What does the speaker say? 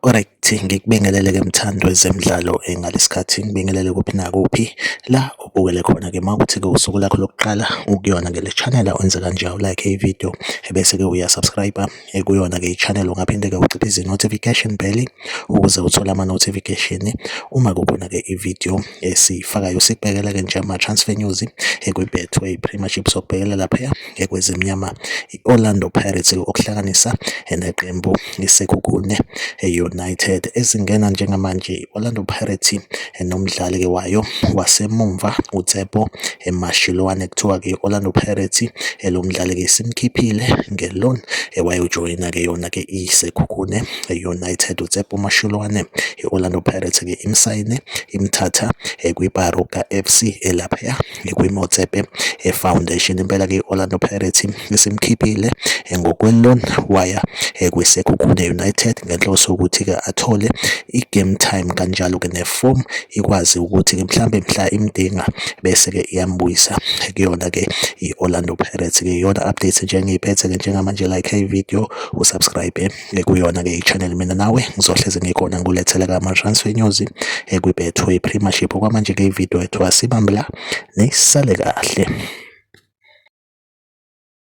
Alright, ngikubingelele ke mthando wezemidlalo eh, ngalesikhathi ngibingelele kuphi nakuphi la ubukele khona ke mawukuthi ke usuku lakho lokuqala ukuyona ngele channel wenze kanje u like i video ebese ke uya subscribe ekuyona-ke i-channel ungaphinde-ke uciphe izi-notification bell ukuze uthole ama-notification uma kukhona-ke i-video esiyifakayo sikubhekela-ke nje ama-transfer news ekwi-betway premiership sokubhekela lapha ekwezimnyama i-orlando pirates okuhlanganisa neqembu isekhukhune e-united ezingena njengamanje Orlando Pirates nomdlali ke wayo wasemumva uTsepo Mashiloane kuthiwa ke Orlando Pirates lo mdlali ke simkhiphile ngeloan wayojoyina ke yona ke iSekhukhune United uTsepo Mashiloane i-Orlando Pirates ke imsayine imthatha kwiBaroka FC elapha kwiMotsepe Foundation. Impela ke i-Orlando Pirates isimkhiphile ngokwe-loan waya kwiSekhukhune United ngenhloso yokuthi-ke athole i-game time kanjalo ke ne-form ikwazi ukuthi-ke mhlambe mhla imdinga bese-ke iyambuyisa kuyona-ke i-Orlando Pirates-ke iyona update nje engiyiphethe-ke njengamanje like ivideo usubscribe ekuyona-ke i-channel mina nawe ngizohlezi ngikhona ngikuletheleka ka ama-transfer news ekwibethu i-premiership okwamanje-ke ividiyo ethiwa sibambela nisale kahle